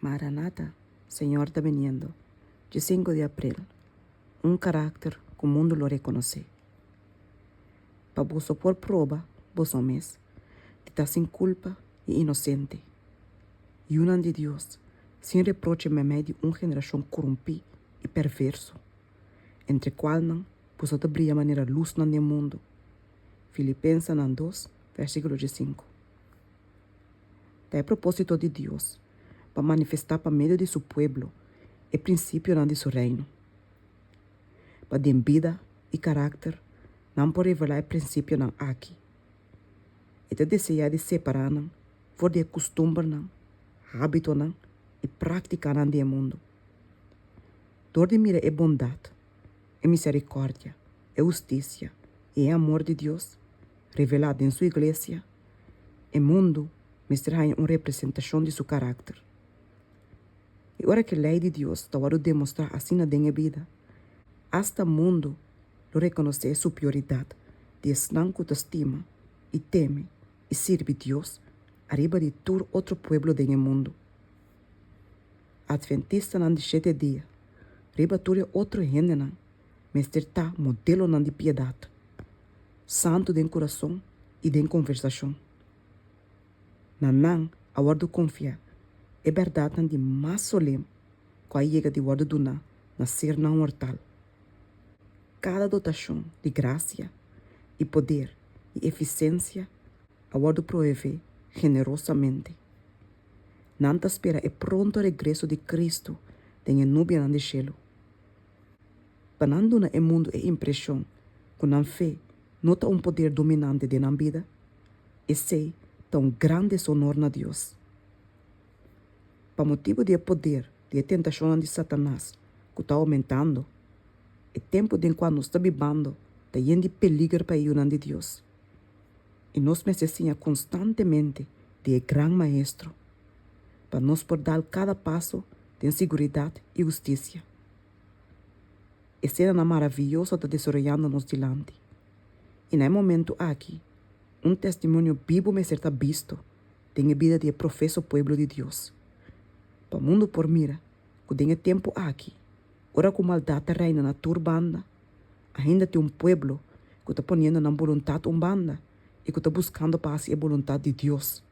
Maranata, Señor ta biniendo, dje sinku di april, un karakter ku mundu lo rekonosé. Pa boso por proba boso mes di ta sin kulpa i inosente, yunan di Dios sin reproche meme di un generashon kurumpí i perverso, entre kualnan boso ta bria manera lusnan den mundu. Filipensenan dos, vèrsikulo dje sinku. Ta e propósito di Dios pa manifestá pa medio di su pueblo e prinsipionan di su Reino. Pa den bida i karákter nan por revelá e prinsipionan aki, e ta deseá di separá nan for di e kustumbernan, hábitonan i práktikanan di e mundu. Dor di mira e bondat, e miserikòrdia, e hustisia i e amor di Dios revelá den su Iglesia, E mundu mester haña un representashon di su karakter. I ora ke lei di Dios ta wòrdu demostrá asina den e bida, asta mundu lo rekonosé e superioridat di esnan ku ta stima i teme i sirbi Dios ariba di tur otro pueblo den e mundu. Adventistanan di shete dia, riba tur e otro hendenan, mester ta modelonan di piedat, santu den kurason i den konversashon. Na nan a wòrdu konfiá e bèrdatnan di mas solem ku a yega di wòrdu duná na ser nan mortal. Kada dotashon di grasia i poder i efisensia a wòrdu proevé generosamente. Nan ta spera e pronto regreso di Kristu den e nubianan di shelu pa nan duna e mundu e impreshon ku nan fe no ta un poder dominante den nan bida, esei ta un gran deshonor na Dios. Pa motibu di e poder di e tentashonnan di Satanas ku ta oumentando, e tempu den kua nos ta bibando ta yen di peliger pa e yunan di Dios, i nos mester siña konstantemente di e Gran Maestro pa nos por dal kada paso den siguridat i hustisia. Esenanan maraviyoso ta desaroyando nos dilanti. I na e momentu aki, un testimonio bibu mester ta bisto den e bida di e profeso pueblo di Dios, pa mundu por mira ku den e tempu aki, ora ku maldat ta reina na tur banda, ainda tin un pueblo ku ta poniendo nan boluntat un banda i ku ta buskando pa hasi e boluntat di Dios,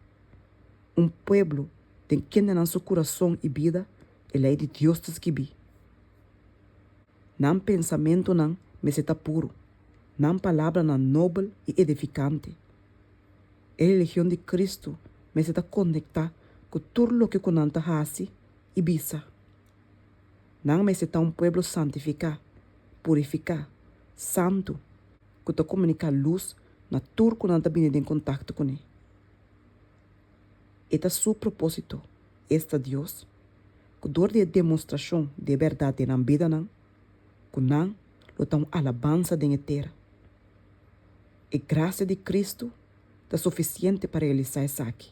un pueblo den kende nan su kurason i bida e Lei di Dios ta skibí. Nan pensamentunan mester ta puru, nan palabranan nobel i edifikante. E religion di Cristo mester ta konektá ku tur loke ku nan ta hasi i bisa. Nan mester ta un pueblo santifiká, purifiká, santu, ku ta komuniká lus na tur ku nan ta bini den kontakto kuné. E ta su propósito esta Dios ku dor di e demostrashon di e bèrdat den nan bidanan ku nan lo ta un alabansa den e tera. E grasia di Kristu ta sufisiente pa realisá esaki.